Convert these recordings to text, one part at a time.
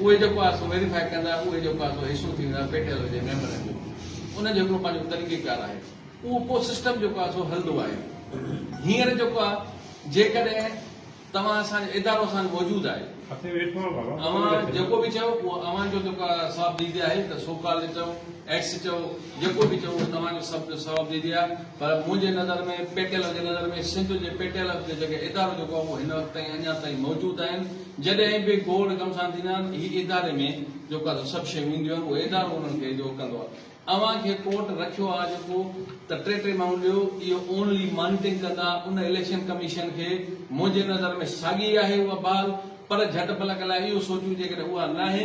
اهي جيڪو آهي سو ويريفائي ڪندا اهي جيڪو آهي سو حصو ٿي ويندا پي ٽي ايل جي ميمبرن جو ان جو هڪڙو پنهنجو طريقي ڪار آهي اهو پوء سسٽم جيڪو آهي سو هلندو آهي هينئر جيڪو آهي جيڪڏهن توهان اسان جو ادارو اسان جو موجود آهي اوهان جيڪو به چيو اهو اوهان جو جيڪو آهي صاحب ديدي آهي ته سو ڪالڊ چئو ايڪس چئو جيڪو به چئو اهو توهان جو سڀ جو صاحب ديدي آهي پر منهنجي نظر ۾ پي ٽي ايل جي نظر ۾ سنڌ جي پي ٽي ايل جو جيڪي ادارو جيڪو آهي اهو هن وقت تائين اڃا تائين موجود آهن جڏهن به ڪوڙ ڪم سان ٿيندا آهن هي اداري ۾ جو ڪا سڀ شيون هونديون آهن اهو ادارو انهن کي جو ڪندو آهي اوهان کي ڪورٽ رکيو آهي جو ڪو ته ٽي ٽي ماڻهو ڏيو اهو اونلي مانيٽنگ ڪندا ان اليڪشن ڪميشن کي منهنجي نظر ۾ ساڳي آهي اها بحال پر جهٽ پلڪ لاء اهو سوچون جيڪڏهن اها ناهي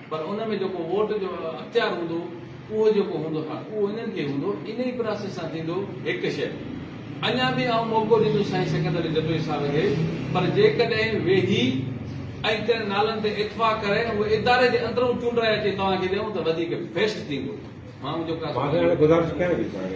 پر ان ۾ جيڪو ووٽ جو اختيار هوندو اهو جيڪو هوندو ها اهو انهن کي هوندو انهي پراسيس سان ٿيندو هڪ شئي اڃا به آئون موقعو ڏيندس سائين سڪندر جتوئي صاحب کي پر جيڪڏهن ويهي ۽ ڪن نالن تي اتفاق ڪري ۽ اهي اداري جي اندرون چونڊرائي اچي توهان کي ڏيون ته وڌيڪ بيسٽ ٿيندو ماڻهو جيڪو آهي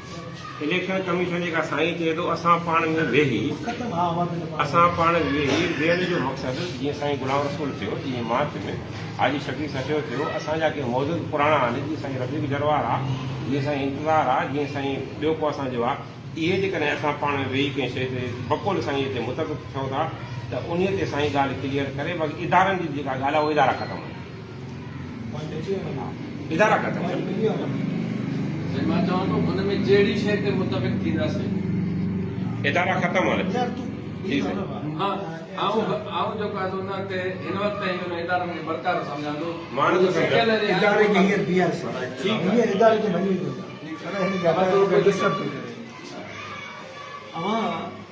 اليڪشن ڪميشن جيڪا سائين چئي ٿو اسان پاڻ ۾ ويهي اسان پاڻ ويهي ويهڻ جو مقصد جيئن سائين غلام رسول ٿيو جيئن مارچ ۾ حاجي شفيق سچو ٿيو اسان جا ڪي موجود پراڻا آهن جيئن سائين رفيق جروار آ جيئن سائين انتظار آ جيئن سائين ٻيو ڪو اسان جو آ اهي جيڪڏهن اسان پاڻ ۾ ويهي ڪنهن شيء تي بقول سائين تي متفق ٿيو ٿا ته انهي تي سائين ڳالهه ڪليئر ڪري باقي ادارن جي جيڪا ڳالهه آ اهي ادارا ختم آهن ادارا ڪا ٿا ادارا ختم آهن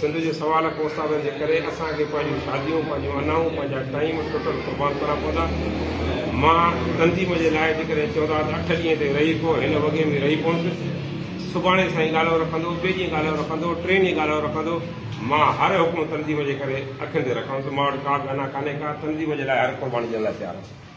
سنڌ جي سوال ڪوساوير جي ڪري اسان کي پنهنجون شاديون، پنهنجون انائون، پنهنجا ٽائيم ٽوٽل قربان ڪرڻا پوندا. مان تنظيم جي لاء جيڪڏهن چوندا ته اٺ ڏينهن تي رهي پئو، هن وڳي ۾ رهي پوندس. سڀاڻي سائين ڳالهيو رکندو، ٻئي ڏينهن ڳالهيو رکندو، ٽئين ڏينهن ڳالهيو رکندو. مان هر حڪم تنظيم جي ڪري اکين تي رکندس. مان وٽ ڪا به انا ڪانهي ڪا، تنظيم جي لاء هر قرباني ڏيڻ لاء تيار آهيان.